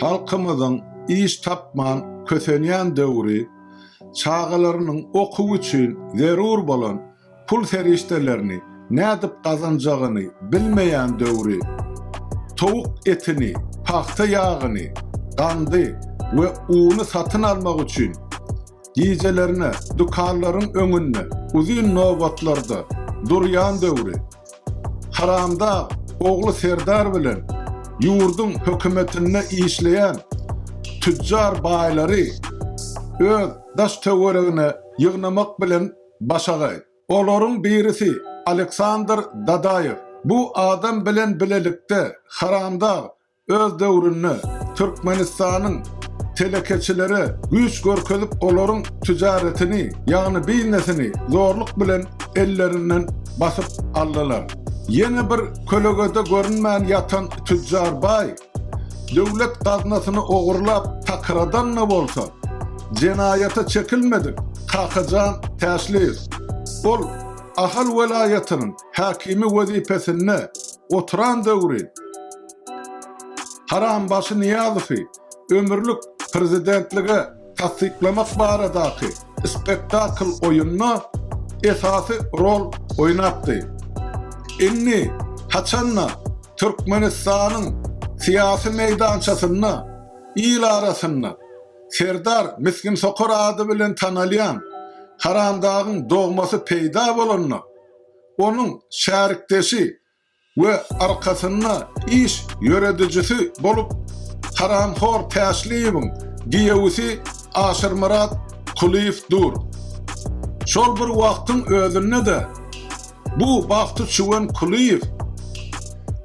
Halkymyzyň iş tapman kösenýän döwri çagalarynyň okuw üçin zerur bolan pul serişdelerini nädip gazanjagyny bilmeýän döwri, towuk etini, pagta ýagyny, gandy we uny satyn almak üçin gijelerine dükanlaryň öňünde uzyn nobatlarda durýan döwri, Haramdag ogly Serdar bilen ýurduň hökümetinde işleýän tüjjar baýlary öz daş-töweregine ýygnamak bilen başagaý. Olaryň birisi Aleksandr Dadaýew. Bu adam bilen bilelikde Haramdag Öz döwründe Türkmenistanyň telekeçileri güýç görkezip olaryň tijaretini, ýagny biznesini zorluk bilen ellerinden basyp aldylar. Ýene bir kölegede görünmän ýatan tüjjar baý, döwlet gaznasyny ogurlap takyradan-da bolsa, jenaýata çekilmedik Kakajan Täşliýew. Ol Ahal welaýatynyň häkimi wezipesinde Oturan döwri Harambaşy Nyýazowy ömürlik prezidentlige tassyklamak baradaky spektakl oýunda esasy rol oýnapdy. Indi haçanda Türkmenistanyň syýasy meýdançasynda il arasynda Serdar Misginsokar ady bilen tanalýan Haramdagyň dogmasy peýda bolanda, onuň şärikdeşi we arkasynda iş ýöredijisi bolup haramhor Täşliýewiň giýewisi Aşyrmyrat Kulyýew dur. Şol bir wagtyň özünde-de bu bagty çüwen Kulyýew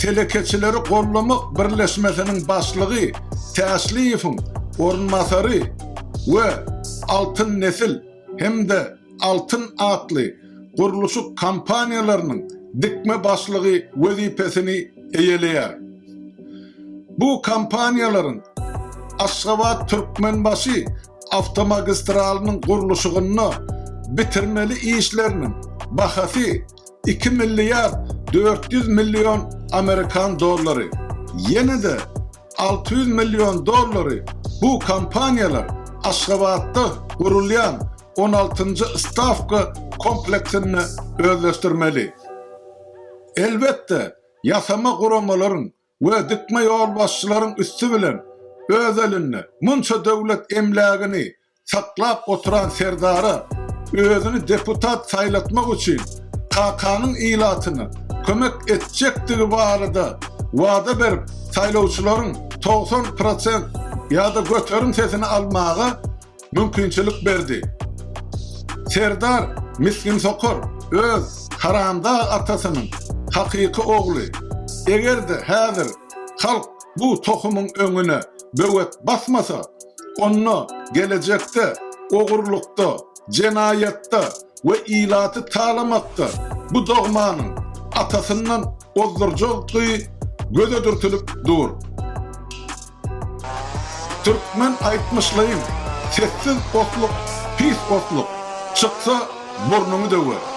Telekeçileri gollamak birleşmesiniň başlygy Täşliýewiň orunbasary we Altyn nesil hem-de Altyn atly gurluşyk kompaniýalarynyň dikme başlygy wezipesini eýeleýär. Bu kompaniýalaryň Aşgabat, Türkmenbaşy awtomagistralynyň gurluşygynda bitirmeli işleriniň bahasy iki milliard dört ýüz million amerikan dollary. Ýene-de alty ýüz million dollary bu kompaniýalar Aşgabatda gurulýan on altynjy stawka komplektinde özleşdirmeli. Elbetde, ýasama guramalaryň we dikme ýolbaşçylaryň üsti bilen öz elinde munça döwlet emlägini saklap oturan serdara özüni deputat saýlatmak üçin kakanyň ilatyna kömek etjekdigi barada wada berip saýlawçylaryň togsan prosent ýa-da göterim sesini almaga mümkinçilik berdi. Serdar misgin sokar öz haramdag atasynyň hakyky ogly. Eger-de häzir halk bu tohumyň öňüne böwet basmasa, onda gelejekde ogurlykda, jenaýatda we ilaty talamakda bu dogmanyň atasyndan ozdurjagdygy göze dürtülip dur. Türkmen aýtmyşlaýyn, Sessiz otluk, pis otluk, çyksa, burnuňy döwer.